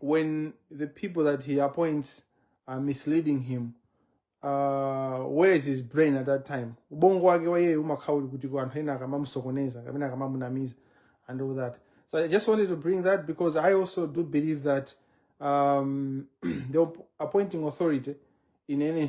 when the people that he appoints are misleading him uh, where is his brain at that time ubongo wake wa iyeyo umakhala uli kuti kuti anthu ena akamamusokoneza kapena akamamunamiza and all that so i just wanted to bring that because i also do believe that um, the appointing authority in any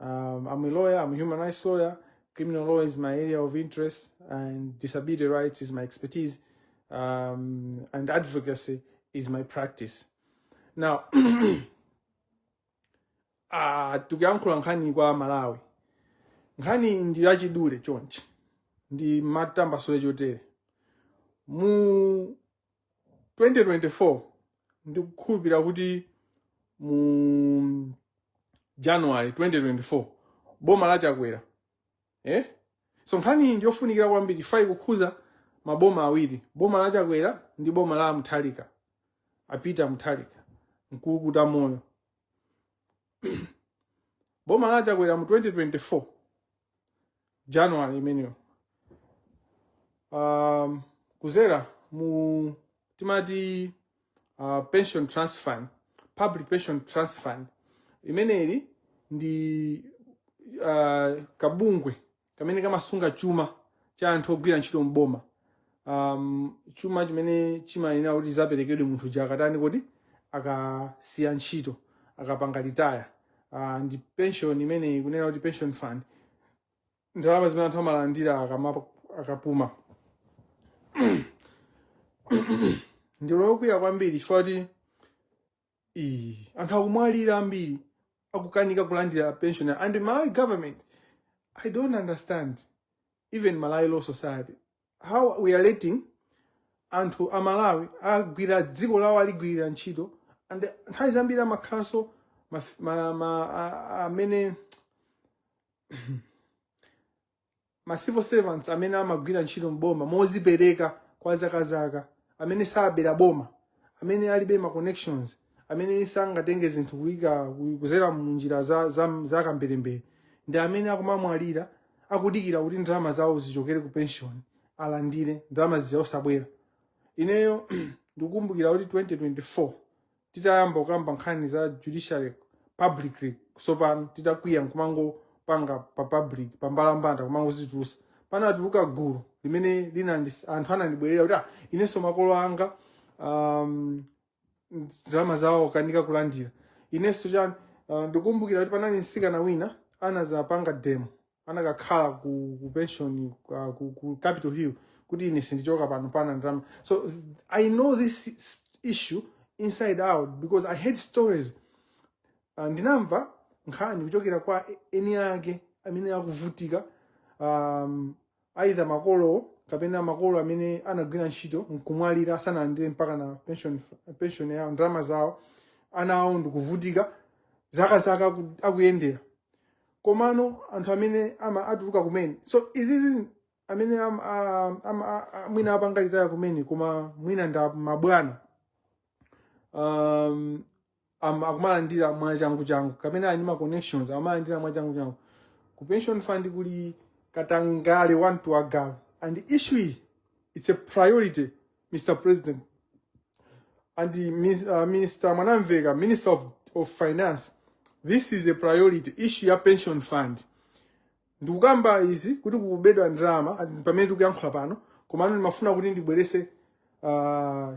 Um, I'm a lawyer, I'm a human rights lawyer. Criminal law is my area of interest, and disability rights is my expertise, um, and advocacy is my practice. Now, uh, tikuyankhula nkhani kwa aMalawi. Nkhani ndi yachidule chonchi. Ndi matambasule chotere. Mu 2024 ndikukhulupirira kuti mu january 2024 boma la chakwera eh? so nkhani iyi ndiyofunikira kwambiri ifa ikukhudza maboma awiri boma la chakwera ndi boma la mutharika a peter mutharika mkulukutamoyo boma la chakwera mu 2024 january imeneyo um, kudzera mu timati uh, pension trust fund public pension trust fund limeneli ndi uh, kabungwe kamene kamasunga chuma cha anthu ogwira ntchito m'boma um, chuma chimene chimayenera kuti chidzaperekedwe munthu uja akatani kodi akasiya ntchito akapanga retire uh, ndi pension imene ikunena kuti pension fund ndalama zimene anthu amalandira akama- akapuma ndili okwiya kwambiri chifukwa kuti Ii, anthu akumwalira ambiri akukanika kulandira pension and malawi government i don't understand even malawi law society how we are letting anthu a malawi agwirira dziko lawo aligwirira ntchito and nthawi zambiri amakhalanso maf- ma- ma- a- a- amene ma civil servants amene amagwira ntchito m'boma mozipereka kwa zakazaka amene sabera boma amene alibe ma connections amene sangatenge zinthu kuyika ku- kudzera munjira za, za, za kamberembere ndi amene akumamwalira akudikira kuti ndalama zawo zichokere ku pension alandire ndalama zija osabwera ineyo ndikukumbukira kuti 2024 titayamba kukamba nkhani za judiciary publicly tsopano titakwiya nkumangopanga pa public pa mbalambanda kumangozitulusa panatuluka gulu limene linandis anthu anandibwerera kuti ah, inenso makolo anga um, ndalama zawo akukanika kulandira inenso chani uh, ndikumbukira kuti panali msikana wina anazapanga demo anakakhala ku, ku pension uh, ku, ku capital hill kuti ine sindichoka pano popanda ndalama so i know this s- issue inside out because i heard stories uh, ndinamva nkhani kuchokera kwa eni ake amene akuvutika um, either makolowo kapena makolo amene anagwira ntchito nkumwalira asanalandire mpaka na pension, pension yawo ndalama zawo ana awo ndikuvutika zaka zaka aku- akuyendera komano anthu amene ama atuluka kumene so izizi amene am, am, am, am, mwina apanga retire kumene koma mwina ndi mabwana um, am- akumalandira mwachanguchangu kapena ali ndi ma connections amalandira mwachanguchangu ku pension fund kuli katangale wamtima wagalu and issue iyi it's a priority mr president and the mis- uh, minister mwanamveka minister of, of finance this is a priority issue ya pension fund ndikukamba izi kuti kukubedwa ndalama and pamene tikuyankhula pano komano ndimafuna kuti ndibweretse uh,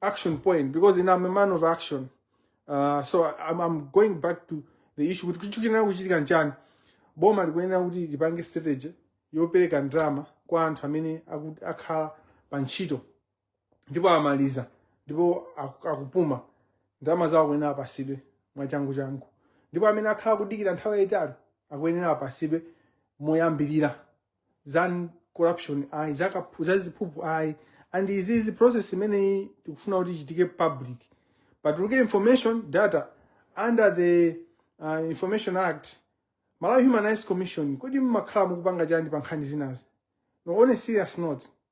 action point because ine am a man of action uh, so I'm, I'm going back to the issue kuti chikuyenera kuchitika nchani boma likuyenera kuti lipange strategy yopereka ndalama kwa anthu amene aku- akhala pa ntchito ndipo amaliza ndipo aku- akupuma ndalama zawo akuyenera apasidwe mwachangu changu ndipo amene akhala kudikira nthawi yayitali akuyenera apasidwe moyambirira za corruption ayi za kaphu- za ziphuphu ayi and izizi process imeneyi tikufuna kuti ichitike public patuluke information data under the uh, information act malawi human rights commission kodi mmakhala mukupanga chani pa nkhani ngati izi no on a serious note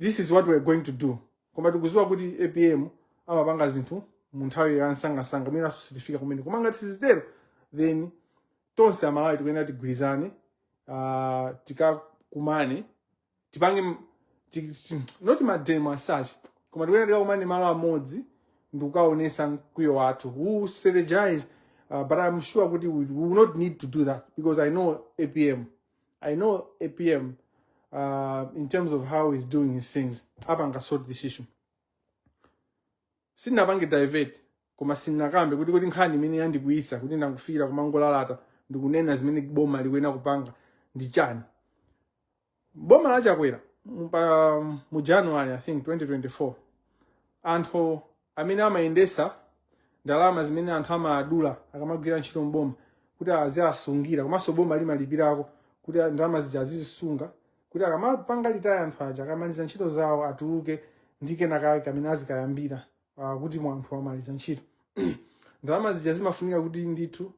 this is what we're going to do koma tikuziwa kuti apm amapanga zinthu mu nthawi ya nsangasanga mwinaso sitifika kumene koma ngati sizitero then tonse amalawi tikuyenera tigwirizane uh, tikakumane tipange m- ti- ti- not mademo as such koma tikuyenera tikakumane malo amodzi ndikukaonesa mkwiyo wathu we'll strategize uh, but i'm sure kuti we, we will not need to do that because i know apm I know APM, uh, in terms of how he's doing his things, apanga sort this issue. Sinapange divert, koma sindinakambe kuti kuti nkhani imene yandikwiyitsa kuti ndingofikira kumangolalata ndikunena zimene boma likuyenera kupanga ndi chani. Boma la Chakwera mu- pa- mu January I think 2024 anthu amene amayendesa ndalama zimene anthu amadula akamagwira ntchito mboma kuti aziasungira komanso boma limalipirako kuti ndalama zija azizisunga kuti akamapanga retire anthu aja akamaliza ntchito zawo atuluke ndi kenakake kamene azikayambira ah, kuti munthu wamaliza ntchito ndalama zija zimafunika kuti ndithu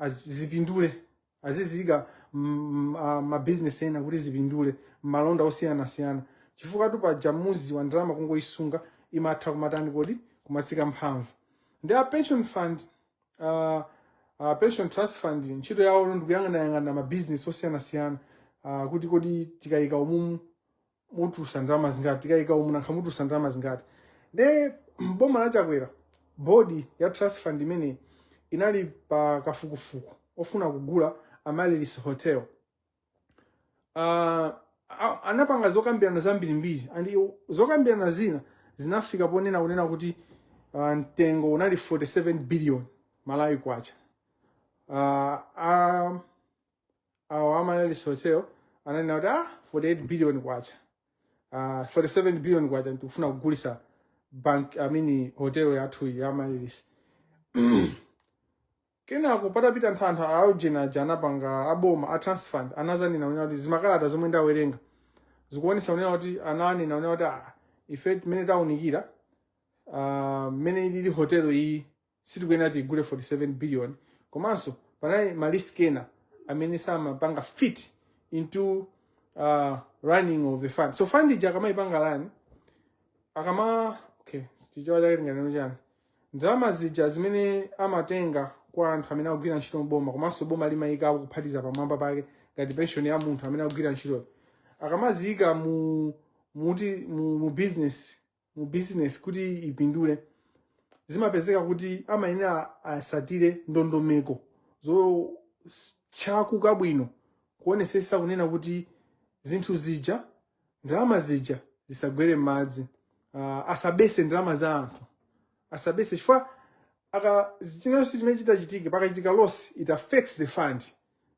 azi- zipindule aziziyika mm, ah, mabizinesi ena kuti zipindule malonda osiyanasiyana chifukwatu paja muziwa ndalama kungoyisunga imatha kumatani kodi kumatsika mphamvu nde a pension fund uh, uh, pension trust fund ntchito yawo ndikuyang'anayang'ana mabizinesi osiyanasiyana uh, kuti kodi tikayika umumu mutulusa ndalama zingati tikayika umu nanga mutulusa ndalama zingati nde boma la chakwera bodi ya trust fund imeneyi inali pa kafukufuku ofuna kugula amaryllis hotel Ah, a- anapanga zokambirana zambirimbiri and iwo- zokambirana zina zinafika ponena kunena kuti ah, mtengo unali 47 billion malawi kwacha Ah, ah, awo a amaryllis hotel ananena kuti ah 48 billion kwacha ah 47 billion kwacha tikufuna kugulisa bank i mean hotel yathu ya amaryllis kenako patapita nthawi aujeni aja anapanga aboma a trust fund anazanena unena kuti zimakalata zomwe ndawerenga zikuonesa unena kuti ananena unena kuti ah ife mmene taunikira ah, mmene ilili hotel iyi sitikuyenera tigule 47 billion komanso panali ma risk ena amene samapanga fit into uh, running of the fund so fund ija akamayipanga run akama okay chichewa chake tinganene chani ndalama zija zimene amatenga kwa anthu amene akugwira ntchito mboma komanso boma limayikapo kuphatiza pamwamba pake ngati pension ya munthu amene akugwira ntchitoyo akamaziyika mu muti mu, mu business mu business kuti ipindule zimapezeka kuti amayenera asatire ndondomeko zotchakuka bwino kuonesesa kunena kuti zinthu zija ndalama zija zisagwere m'madzi uh, asabese ndalama za anthu asabese chifukwa aka china chilichonse chimene chitachitike pakachitika loss it affects the fund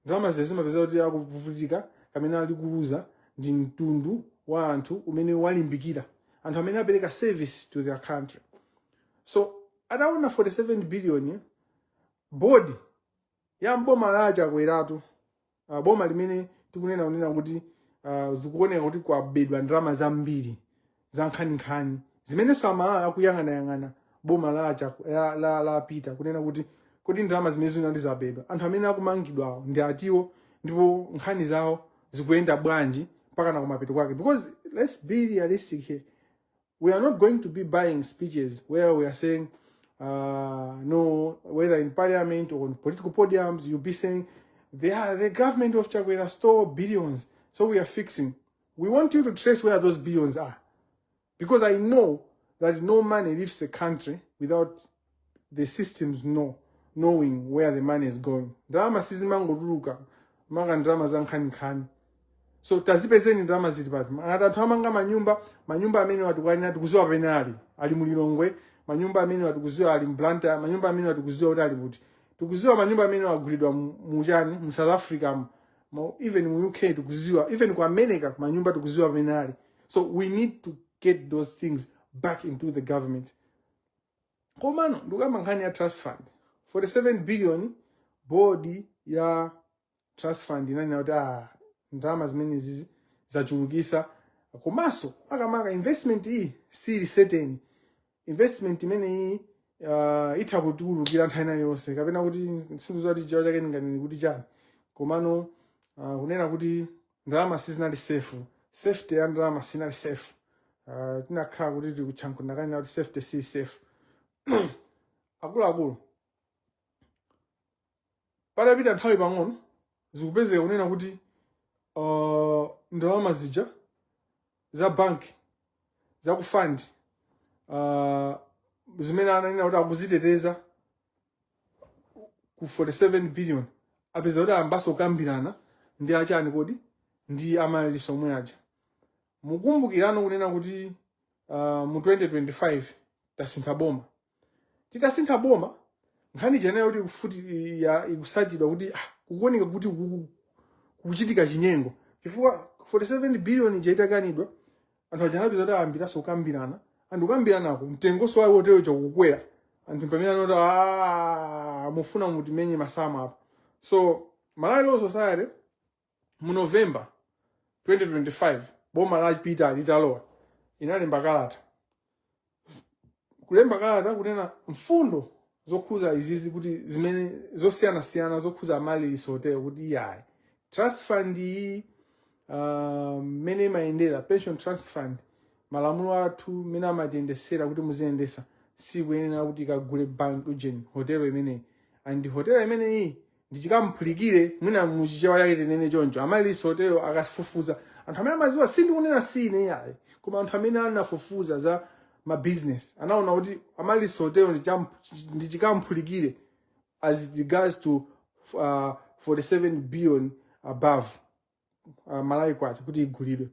Ndalama zija zimapezeka kuti akuvutika kamene ali kuluza ndi mtundu wa anthu umene walimbikira anthu amene apereka service to their country so ataona 47 billion board ya mboma la chakweratu uh, boma limene tikunena kunena kuti uh, zikuoneka kuti kwabedwa ndalama zambiri zankhaninkhani zimenenso amalawi akuyang'anayang'ana boma la, Chaku- la, la, la peter kunena kuti kodi ndalama zimene zinali zabedwa anthu amene akumangidwawo ndi atiwo ndipo nkhani zawo zikuyenda bwanji mpaka nakumapeto kwake because let's be realistic here we are not going to be buying speeches where we are saying uh, no whether in parliament or on political podiums you'll be saying they are, the government of chakwera stole billions so we are fixing We want you to trace where those billions are. Because I know that no money leaves the country without the systems know, knowing where the money is going. Ndalama sizimangotuluka maka ndalama za nkhaninkhani. So tazipezeni ndalama zili pati. Ngati anthu amanga manyumba, manyumba amenewa tikuwanena tikuziwa pamene ali. Ali mu Lilongwe, manyumba amenewa tikuziwa ali mu Blantyre, manyumba amenewa tikuziwa kuti ali kuti. Tikuziwa manyumba amene agulidwa mu mu chani mu South Africa mu. Mo- even mu uk tikuziwa even ku america manyumba tikuziwa pamene ali so we need to get those things back into the government komano ndikukamba nkhani ya trust fund 47 billion board ya trust fund inanena kuti ah, ndalama zimenezizi zachulukisa komanso makamaka investment iyi sili certain investment imeneyi uh, itha kutiulukira nthawi ina iliyonse kapena kuti sindikuziwa kuti chiyawo chake ndinganene kuti chani komano uh, kunena kuti ndalama sizinali safe safety ya ndalama sinali safe uh, tinakhala kuti tikutchankundakani kuti safety si safe akuluakulu Patapita nthawi pang'ono, zikupezeka kunena kuti uh, ndalama zija za banki za ku fund uh, zimene ananena kuti akuziteteza ku 47 billion apeza kuti ayambaso kukambirana ndi achani kodi ndi amaryllis omwe aja mukumbukirano kunena kuti uh, mu 2025 tasintha boma titasintha boma nkhani ija inali yoti ikufuti ya ikusatidwa kuti ah, kukuoneka kuti kuku- kukuchitika chinyengo chifukwa 47 billion ija itakanidwa anthu aja anapeza kuti ayambiranso kukambirana and kukambiranako mtengonso wa hotelo ija kukwera anthu pamene anati "Ah, mufuna mutimenye masamu apa so malawi law society mu november 2025 boma la peter litalowa inalemba kalata kulemba kalata kunena mfundo zokhuza izizi kuti zimene zosiyanasiyana zokhuza amaryllis hotel kuti iyayi trust fund iyi ah, mmene uh, imayendera pension trust fund malamulo athu mmene amatiyendesera kuti muziyendesa sikuyenera kuti ikagule bank ujeni hotelo imeneyi and hotelo imeneyi ndi chikamphulikire mwina muchichewa chake tinene choncho amaryllis hotel akafufuza anthu amene amaziwa sindikunena si ine yayi koma anthu amene anafufuza za mabusiness anaona kuti amaryllis hotel ndi chikamphulikire as it regards to uh, 47 billion above uh, malawi kwacha kuti igulidwe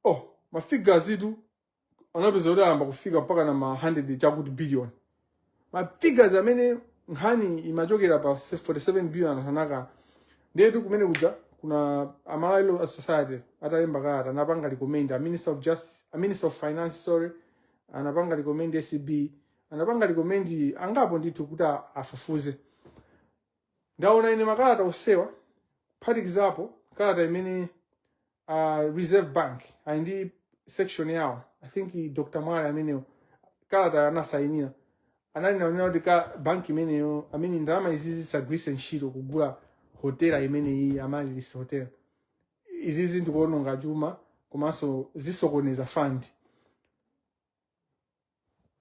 oh mafigures itu anapeza kuti ayamba kufika mpaka na ma 100 chakuti billion ma figures amene nkhani imachokera pa 47 billion anthu anakana ndetu kumene kuja kunali a Malawi Law Society atalemba kalata anapanga recommend a Minister of Justice a Minister of Finance sorry anapanga recommend ACB anapanga recommend angapo ndithu kuti a- afufuze Ndaona ine makalata onsewa kuphatikizapo kalata imene uh, Reserve Bank ali ndi section yawo I think Dr. Mwale ameneyo kalata anasayinira analinso kunena kuti banki imeneyo amene ndalama izizi zisagwiritsidwe ntchito kugula hotela imene iyi Amaryllis Hotel izizi ndikuononga chuma komanso zisokoneza fund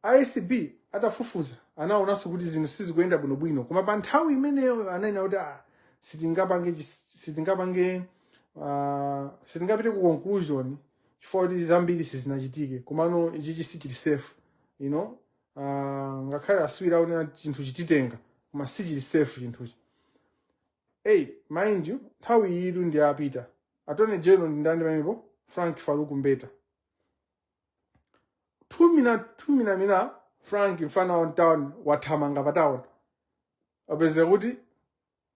A ACB atafufuza anaonanso kuti zinthu sizikuyenda bwinobwino koma pa nthawi imeneyo ananena kuti ah, sitingapange chis- sitingapange ah, sitingapite ku conclusion chifukwa kuti zambiri sizinachitike komano ichichi sichili safe you know ah, ngakhale akatswiri akunena kuti chinthu chititenga koma sichili safe chinthuchi hey mind you nthawi iyitu ndi apita Attorney General ndi ndani pamenepo Frank Farouk Mbeta tumina tumina mina Frank mfana wa mtown wathamanga pa town apeza kuti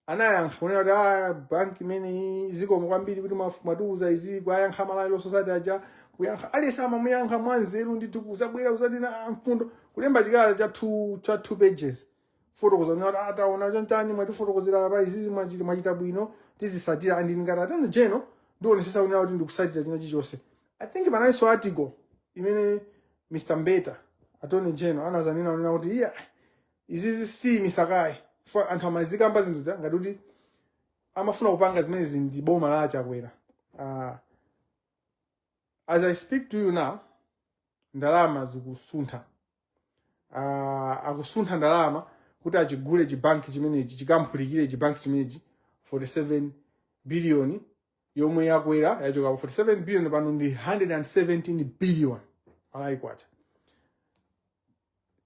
anayankha kunena kuti a banki imeneyi zikomo kwambiri kuti mwaf- mwatiuza izi kuyankha Malawi Law Society aja kuyankha aliyense amamuyankha mwanzeru ndithu kuzabwera kuzanena a mfundo kulemba chikalata cha two, cha two pages fotokoza kuti ata- ataona chonchani mwatifotokozera apa izizi mwachita mwachita bwino tizisatira and ngati Attorney General ndionesesa kunena kuti ndikusatira china chilichonse I think panalinso article imene Mr. Mbeta Attorney General anazanena kunena kuti iya izizi si misakayi fa anthu amazikamba zinthu zija ngati kuti amafuna kupanga zimenezi ndi boma la a Chakwera uh, as I speak to you now ndalama zikusuntha uh, akusuntha ndalama kuti achigule chibanki chimenechi chikaphulikire chibanki chimenechi 47 biliyoni yomwe yakwera yachoka pa 47 biliyoni pano ndi 117 biliyoni Malawi kwacha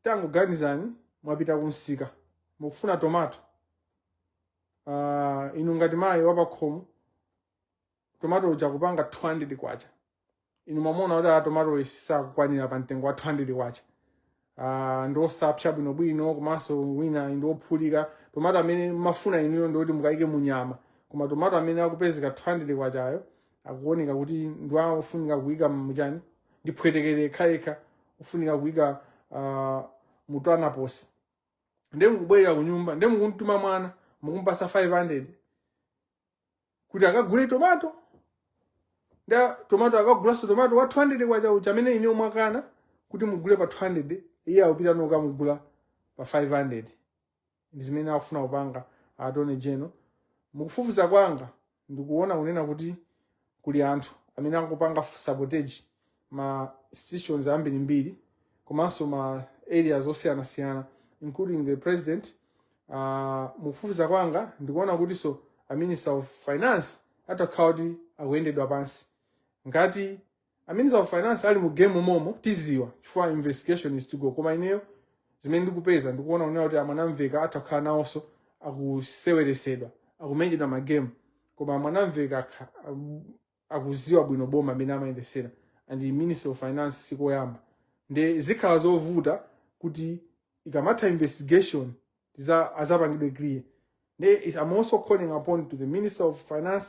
tangoganizani mwapita kumsika mukufuna tomato uh, inu ngati mayi wapakhomo tomato uja kupanga 200 kwacha inu mwamona kuti tomato sakukwanira pa mtengo wa 200 kwacha uh, ndi osapsa bwinobwino komanso wina ndi ophulika tomato amene mumafuna inuyo ndikuti mukayike mu nyama koma tomato amene akupezeka 200 kwachayo akuoneka kuti ndi ofunika kuyika muchani ndi phwetekere yekhayekha ofunika kuyika uh, mutwanaposi nde mukubwerera ku nyumba nde mukumtuma mwana mukumpasa 500 kuti akagule tomato nda tomato akagulanso tomato wa 200 kwacha uja amene ine umakana kuti mugule pa 200 iye akupita nkukamugula pa 500 ndi zimene akufuna kupanga attorney general mukufufuza kwanga ndikuona kunena kuti kuli anthu amene akupanga sabotage ma institutions ambirimbiri komanso ma areas osiyanasiyana including the president uh, mukufufuza kwanga ndikuona kutinso a minister of finance atha kukhala kuti akuyendedwa pansi ngati a minister of finance ali mu game momo tiziwa chifukwa investigation is to go koma ineyo zimene ndikupeza ndikuona kunena kuti a mwanamvekha atha kukhala nawonso akuseweresedwa akumenyedwa magemu koma a mwanamvekha akha- am- akuziwa bwino boma mmene amayendesera and minister of finance sikoyamba nde zikhala zovuta kuti ikamatha investigation azapangidwe clear nde it- i'm also calling upon to the minister of finance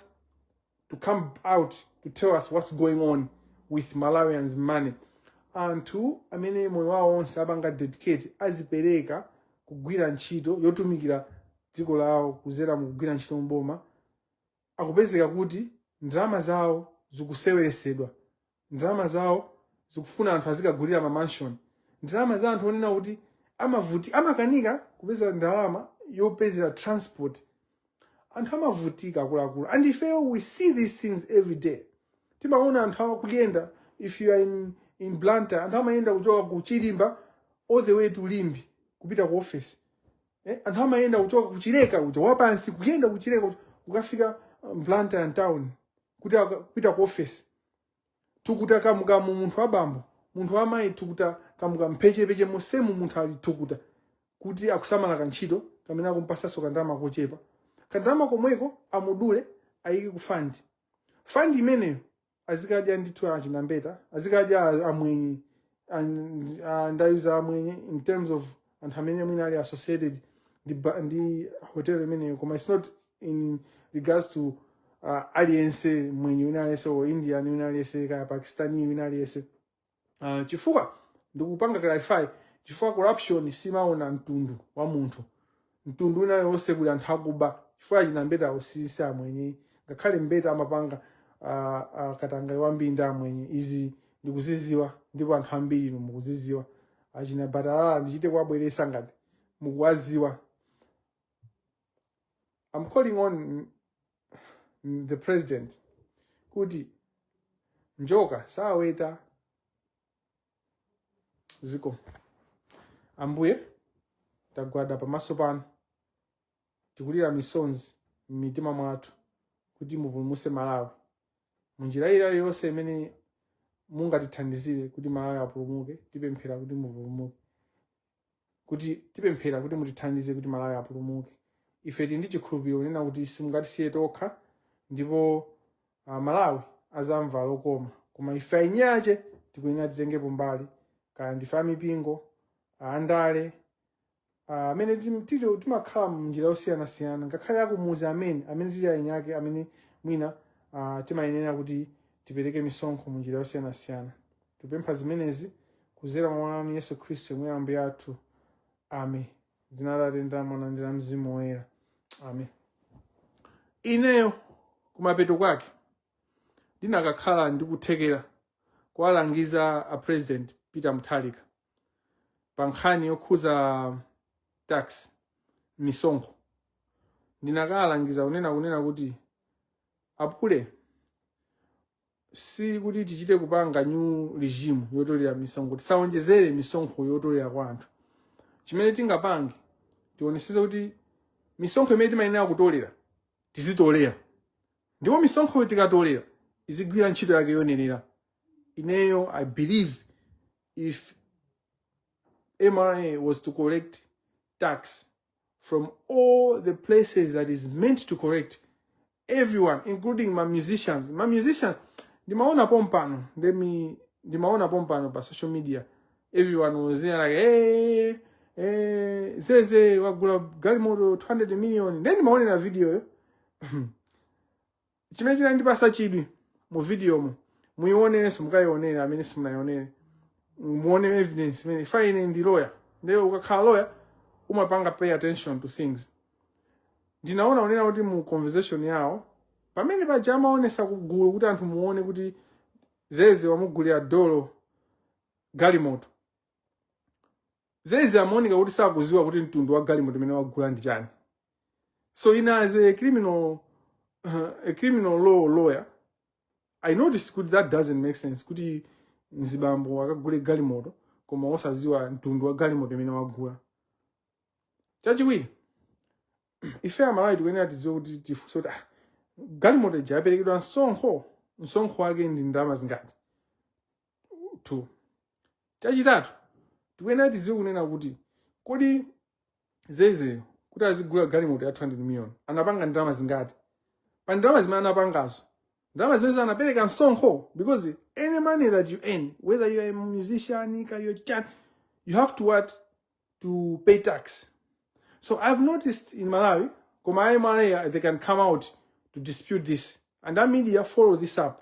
to come out to tell us what's going on with malawians money anthu amene moyo wawo onse apanga dedicate azipereka kugwira ntchito yotumikira dziko lawo kuzera mukugwira ntchito mboma akupezeka kuti ndalama zawo zikuseweresedwa ndalama zawo zikufuna anthu azikagulira ma mansion ndalama za anthu onena kuti amavuti amakanika kupeza ndalama yopezera transport anthu amavutika akuluakulu and ifeyo we see these things every day timaona anthu akuyenda if you are in, in blantyre anthu amayenda kuchoka ku chilimba all the way to limbe kupita ku office eh, anthu amayenda kuchoka kuchileka kuja wapansi kuyenda kuchileka kuja, kukafika um, blantyre town kuti aka- kupita ku office thukuta kamukamu munthu wabambo munthu wamayi thukuta kamukamu pechepeche mosemu munthu ali thukuta kuti akusamala kantchito kamene akumpasaso kandalama kochepa kandalama komweko amudule ayike ku fund fund imeneyo azikadya ndithu achina mbeta azikadya a- amwenye and uh, ndayuza amwenye in terms of anthu amene mwina ali associated ndi, ba- ndi hotel imeneyo koma its not in regards to uh, aliyense mwenye wina aliyense or indian wina aliyense kaya pakistani wina aliyense uh, chifukwa ndikupanga clarify chifukwa corruption simaona mtundu wa munthu mtundu wina yonse kuli anthu akuba chifukwa achina mbetawo si si amwenye ngakhale mbeta amapanga uh, uh, katangale wambiri ndi amwenye izi ndikuziziwa ndipo anthu ambiri inu mukuziziwa achina batalala ndichite kuwabweresa ngati mukuwaziwa I'm calling on mm, the president kuti njoka saweta ziko ambuye tagwada pamaso panu tikulira misonzi m'mitima mwathu kuti mupulumuse malawi munjira iliyonse imene mungatithandizire kuti malawi apulumuke tipemphera kuti mupulumuke kuti tipemphera kuti mutithandize kuti malawi apulumuke ife tili ndi chikhulupiriro kunena kuti simungatisiye tokha ndipo uh, malawi azamva lokoma koma ife ainyache tikuyenera titengepo mbali kaya ndife amipingo andale ah, amene tim- tili- timakhala munjira yosiyanasiyana ngakhale akumuzi amene amene tili ainyake amene mwina ah, timayenera kuti tipereke misonkho munjira yosiyanasiyana Tipempha zimenezi kudzera mwa mwana wanu Yesu Khristu yemwe Ambuye athu. Amen. Dzina la Atate ndi la Mwana ndi la Mzimu Woyera. Amen. Ineyo kumapeto kwake ndinakakhala ndi kuthekera kuwalangiza a President Peter Mutharika pa nkhani yokhuza tax misonkho. Ndinakawalangiza kunena kunena kuti apule si kuti tichite kupanga new regime yotolera misonkho tisawonjezere misonkho yotolera kwa anthu chimene tingapange tioneseze kuti misonkho imene timayenera kutolera tizitolera ndipo misonkhoyo tikatolera izigwira ntchito yake yoyenera ineyo i believe if mra was to collect tax from all the places that is meant to correct everyone including my musicians my musicians ndimaona pompano let me ndimaona pompano pa social media everyone was there like hey, hey, zeze wagula galimoto 200 million then ndimaonera video yo Chimene chinandipasa chidwi mu video mo muionenso mukaionere amene simunaionere muone evidence imene if ine ndi lawyer ndiyo ukakhala lawyer umapanga pay attention to things ndinaona unena kuti mu conversation yawo pamene paja amaonesa kugulu kuti anthu muone kuti zeze wamugulira dolo galimoto zeze amaoneka kuti sakuziwa kuti mtundu wa galimoto imene wagula ndi chani So, in as a criminal, uh, a criminal law lawyer, I noticed kuti that doesn't make sense kuti mzibambo akagule galimoto koma osaziwa mtundu wa galimoto imene wagula. Chachiwiri, ife amalawi tikuyenera tiziwe kuti tifunse kuti ah, galimoto ija yaperekedwa msonkho msonkho wake ndi ndalama zingati two chachitatu tikuyenera tiziwe kunena kuti kodi zezeyo kuti azigula galimoto ya 200 million anapanga ndalama zingati pa ndalama zimene anapangazo ndalama zimenezo anapereka msonkho because any money that you earn whether you are a musician kaya chani you have to what to pay tax so i've noticed in malawi koma a mra they can come out to dispute this and a media follow this up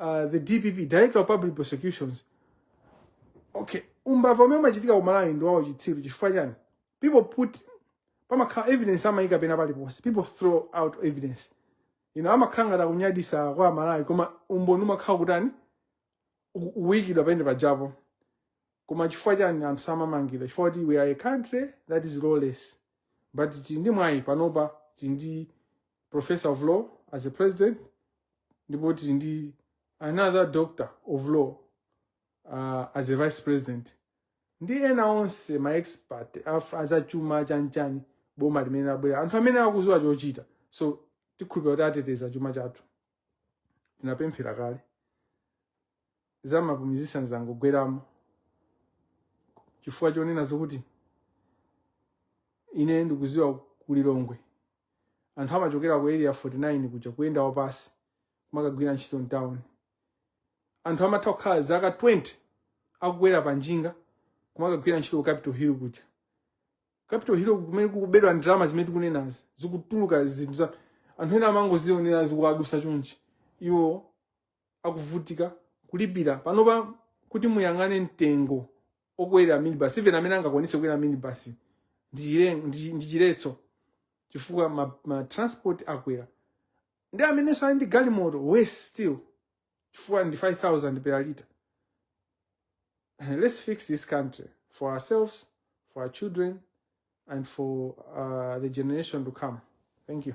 uh, the dpp director of public prosecutions okay umbava umene umachitikira ku malawi ndi wauchitsiru chifukwa chani people put pamakhala evidence amayika pena paliponse people throw out evidence you know amakhala ngati akunyadisa kwa amalawi koma umboni umakhala kutani uku- ukuyikidwa penepajapo koma chifukwa chani anthu samamangidwa chifukwa kuti we are a country that is lawless but tili ndi mwayi panopa tili ndi professor of law as a president ndipo tili ndi another doctor of law uh, as a vice president ndi ena onse ma expert azachuma chanchani boma limene labwera anthu amene akuziwa chochita so tikhulupira kuti ateteza chuma chathu tinapemphera kale za ma musicians zangogweramo chifukwa chonena zokuti ine ndikuziwa ku lilongwe anthu amachokera ku area 49 kuja kuyenda wapasi kumakagwira ntchito mtown anthu amatha kukhala zaka 20 akukwera pa njinga kumakagwira ntchito ku capital hill kuja capital hill kumene kukubedwa ndalama zimene tikunenazi zikutuluka zinthu za anthu ena amangozionera zikuwadusa chonchi iwo akuvutika kulipira panopa kuti muyang'ane mtengo okwera minibus even amene angakwanise kukwera minibus ndi chiletso chifukwa ma, ma transport akwera nde amenenso ali ndi galimoto worse still chifukwa ndi 5000 per lita let's fix this country for ourselves for our children and for uh, the generation to come thank you